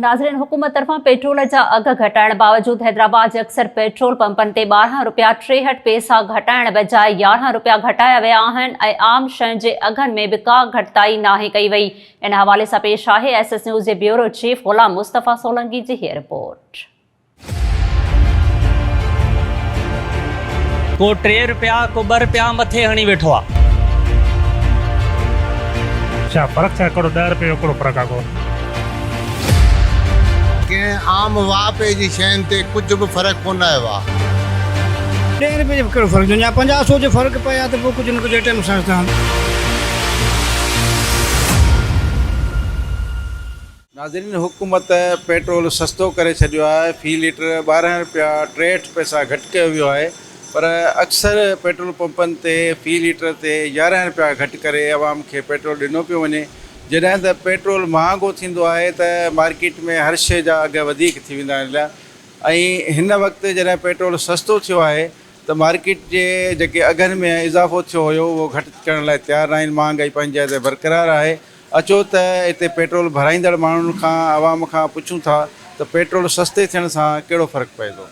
ناظرين حڪومت طرفان پيٽرول جا اگهه گهٽائڻ باوجود حيدرآباد جي اڪثر پيٽرول پمپن تي ٻارهن رپيا ٽيهٺ پئسا گهٽائڻ بجاء يارهن رپيا گهٽايا ويا آهن ۽ عام شين جي اگهن ۾ به ڪا گهٽتائي ناهي ڪئي وئي ان حوالي سان پيش آهي ايس ايس نيوز جي بيورو چيف غلام مصطفيٰ سولنگي جي هيء رپورٽ. ڪو ٽي رپيا ڪو ٻه رپيا مٿي هڻي ويٺو آ. ڇا فرق ڇا هڪڙو ڏهه رپين هڪڙو فرق آ ڪو. ڪنهن عام واهپي جي شين تي ڪجهه به فرق ڪونه آيو آ. ڏهين رپين جو به ڪهڙو فرق جون جا پنجاهه سو جو فرق پئي آ ته پوء ڪجهه نه ڪجهه ايٽم سان ته. ناظرين حڪومت پيٽرول سستو ڪري ڇڏيو آهي في ليٽر ٻارهن رپيا ٽيهٺ پئسا گهٽ ڪيو ويو آهي پر اڪثر پيٽرول پمپن تي في ليٽر تي يارهن رپيا گهٽ ڪري عوام کي پيٽرول ڏنو پيو وڃي جڏهن ته پيٽرول مهانگو ٿيندو آهي ته مارڪيٽ ۾ هر شئي جا اگهه وڌيڪ ٿي ويندا آهن ۽ هن وقت جڏهن پيٽرول سستو ٿيو آهي ته مارڪيٽ جي جيڪي اگهن ۾ اضافو ٿيو هيو اهو گهٽ ڪرڻ لاء تيار ناهن مهانگائي پنهنجي جاء تي برقرار آهي اچو ته اتي پيٽرول ڀرائيندڙ ماڻهن کان عوام کان پڇون ٿا ته پيٽرول سستي ٿيڻ سان ڪهڙو فرق پئي ٿو؟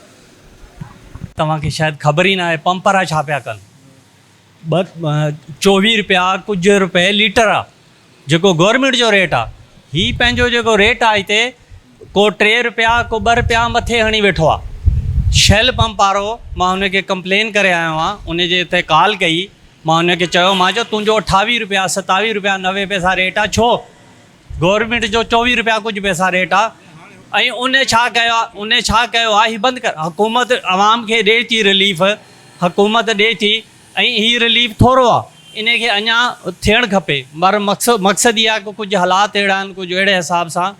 توهان کي شايد خبر ئي ناهي پمپ وارا ڇا پيا ڪن ٻه چوويهه رپيا ڪجهه رپئي ليٽر آ جيڪو گورمينٽ جو ريٽ آ هي پنهنجو جيڪو ريٽ آ هتي ڪو ٽي رپيا ڪو ٻه رپيا مٿي هڻي ويٺو آ شيل پمپ وارو مان هن کي ڪمپلين ڪري آيو آهيان ان جي اتي ڪال ڪئي مان هن کي چيو مان جو تنهنجو اٺاويهه رپيا ستاويهه رپيا نوي پئسا ريٽ آ ڇو گورنمينٽ جو چوويهه رپيا ڪجهه پئسا ريٽ آ ۽ ان ڇا ڪيو آ ان ڇا ڪيو آ هي بند ڪر حڪومت عوام کي ڏي ٿي رليف حڪومت ڏي ٿي ۽ هي رليف ٿورو آ ان کي اڃا ٿيڻ کپي مر مقصد مقصد هي آ ڪجهه حالات اهڙا آهن ڪجهه اهڙي حساب سان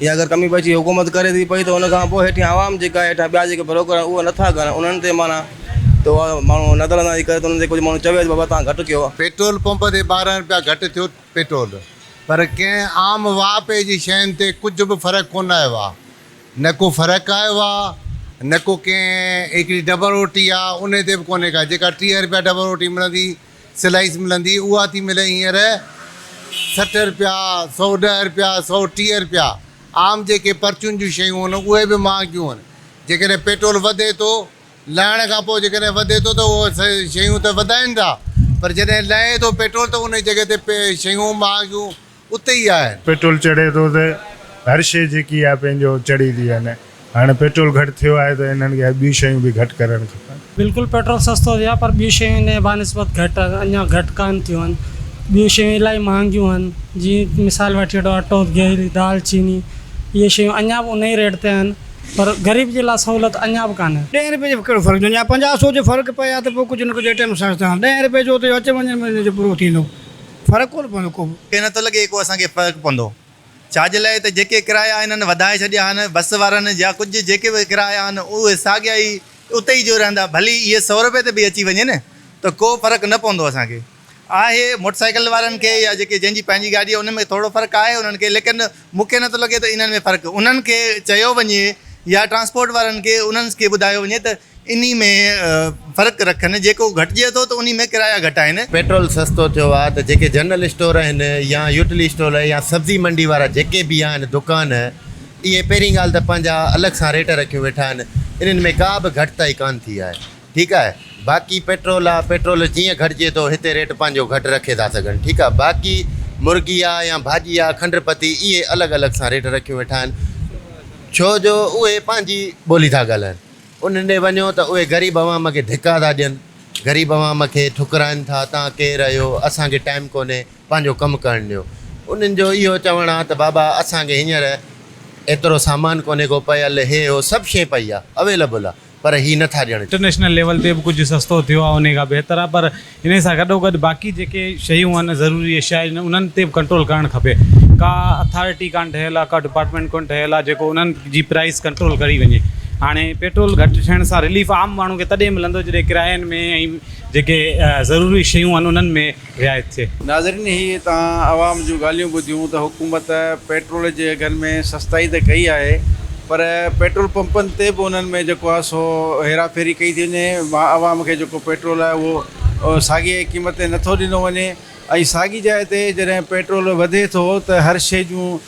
يا اگر ڪمي بخشي حڪومت ڪري ٿي پئي ته ان کان پوء هيٺيان عوام جيڪا هيٺان ٻيا جيڪي بروڪر آهن اهي نٿا ڪن انهن تي معنيٰ ته اها ماڻهو نظر اندازي ڪري ته انهن تي ڪجهه ماڻهو چوي ته بابا تان گهٽ ڪيو. پيٽرول پمپ تي ٻارهن رپيا گهٽ ٿيو پيٽرول پر ڪنهن عام واهپي جي شين تي ڪجهه به فرق ڪونه آيو آهي نه ڪو فرق آيو آهي نه ڪو ڪنهن هڪڙي ڊبل روٽي آهي انهي تي به ڪونهي ڪا جيڪا ٽيهه رپيا ڊبل روٽي ملندي سلائيس ملندي اها ٿي ملي هينئر سٺ رپيا، سؤ ڏهه رپيا، سؤ ٽيهه رپيا. عام جيڪي پرچون جون شيون هن اهي به مهانگيون هن. جيڪڏهن پيٽرول وڌي ٿو، لهڻ کان پوء جيڪڏهن وڌي ٿو ته اهي شيون ته وڌائين ٿا پر جڏهن لهي ٿو پيٽرول ته انهي جڳهه تي شيون مهانگيون. اتي ئي آهن. پيٽرول چڙهي ٿو ته هر شيء جيڪي آهي پنهنجو چڙهي ٿي وڃي. هاڻي پيٽرول گهٽ ٿيو آهي ته انهن کي ٻيون شيون به گهٽ ڪرڻ کپن. بلڪل پيٽرول سستو ٿيو آهي پر ٻيون شيون ان جي بانسبت گهٽ اڃا گهٽ ڪانه ٿيون آهن. ٻيون شيون الائي مهانگيون آهن. جيئن مثال وٺي وٺو اٽو، گيهه، دال، چيني اهي شيون اڃا به انهي ريٽ تي آهن پر غريب جي لاء سهولت اڃا به ڪانه. ڏهين رپئي جو ڪهڙو فرق ٿيندو يا پنجاهه سؤ جو فرق پئي ها ته پوء ڪجهه نه ڪجهه اٽي ۾ سستائڻ ڏهين رپئي جو ته اچ وڃ ۾ ان جو پورو ٿيندو. فرق ڪونه پوندو ڪو به. ڪي نٿو لڳي ڪو اسان کي فرق پوندو ڇاجي لاء ته جيڪي ڪرايا هنن وڌائي ڇڏيا آهن بس وارن يا ڪجهه جيڪي به ڪرايا آهن اهي ساڳيا ئي اتي ئي جو رهندا ڀلي اهي سؤ روپي تي به اچي وڃن ته ڪو فرق نه پوندو اسان کي آهي موٽرسائيڪل وارن کي يا جيڪي جنهن جي پنهنجي گاڏي آهي ان ۾ ٿورڙو فرق آهي انهن کي ليڪن مون کي نٿو لڳي ته انهن ۾ فرق انهن کي چيو وڃي يا ٽرانسپورٽ وارن کي انهن کي ٻڌايو وڃي ته انهي ۾ فرق رکن، جيڪو گهٽجي ٿو ته انهي ۾ ڪرايا گهٽ آهن. پيٽرول سستو ٿيو آهي ته جيڪي جنرل اسٽور آهن يا يوٽلي اسٽول يا سبزي منڊي وارا جيڪي به آهن دڪان اهي پهرين ڳالهه ته پنهنجا الڳ سان ريٽ رکيون ويٺا آهن انهن ۾ ڪا به گهٽتائي ڪانه ٿي آهي. ٺيڪ آهي باقي پيٽرول آ پيٽرول جيئن گهٽجي ٿو هتي ريٽ پنهنجو گهٽ رکي ٿا سگهن ٺيڪ آ باقي مرغي آ يا ڀاڄي آ کنڊ پتي اهي الڳ الڳ سان ريٽ رکيون ويٺا آهن ڇو جو اهي پنهنجي ٻولي ٿا ڳالهائن انهن ڏي وڃو ته اهي غريب عوام کي ڌڪا ٿا ڏين غريب عوام کي ٺڪرائن ٿا توهان ڪير اهيو اسان کي ٽائيم ڪونهي پنهنجو ڪم ڪرڻ ڏيو انهن جو اهيو چوڻ آ ته بابا اسان کي هينئر ايترو سامان ڪونهي ڪو پيل هي هو سڀ شي پئي آ اويلبل آ پر هي نه ٿا ڄڻن. انٽرنيشنل ليول تي به ڪجهه سستو ٿيو آهي انهي کان بهتر آهي پر انهي سان گڏوگڏ باقي جيڪي شيون آهن ضروري اشيا آهن انهن تي به ڪنٽرول ڪرڻ کپي ڪا اٿارٽي ڪانه ٺهيل آهي ڪا ڊپارٽمينٽ ڪونه ٺهيل آهي جيڪو انهن جي پرائس ڪنٽرول ڪري وڃي هاڻي پيٽرول گهٽ ٿيڻ سان رليف عام ماڻهو کي تڏهن ملندو جڏهن ڪراين ۾ ۽ جيڪي ضروري شيون آهن انهن ۾ رعايت ٿئي. ناظرين هي توهان عوام جون ڳالهيون ٻڌيون ته حڪومت پيٽرول جي اگهن ۾ سستائي ته ڪئي آهي پر پيٽرول پمپن تي به انهن ۾ جيڪو آهي سو هيرا ڦيري ڪئي ٿي وڃي عوام کي جيڪو پيٽرول آهي اهو ساڳي قيمت تي نٿو ڏنو وڃي ۽ ساڳي جاء تي جڏهن پيٽرول وڌي ٿو ته هر شئي جون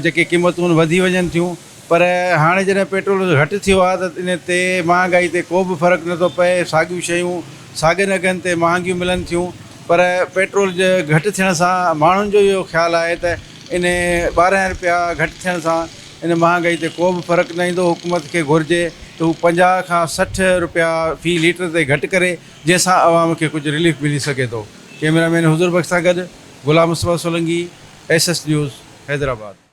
جيڪي قيمتون آهن وڌي وڃن ٿيون پر هاڻي جڏهن پيٽرول اگهه گهٽ ٿيو آهي ته ان تي مهانگائي تي ڪو به فرق نه ٿو پئي، ساڳيون شيون ساڳين اگهن تي مهانگيون ملن ٿيون، پر پيٽرول جي گهٽ ٿيڻ سان ماڻهن جو اهو خيال آهي ته ان ٻارهن رپيا گهٽ ٿيڻ سان ان مهانگائي تي ڪو به فرق نه ايندو، حڪومت کي گهرجي ته هو پنجاهه کان سٺ رپيا في ليٽر تي گهٽ ڪري، جنهن سان عوام کي ڪجهه رليف ملي سگهي ٿو. ڪئميرا مين حضور بخش سان گڏ Ghulam Mustafa Solangi, S S news, Hyderabad.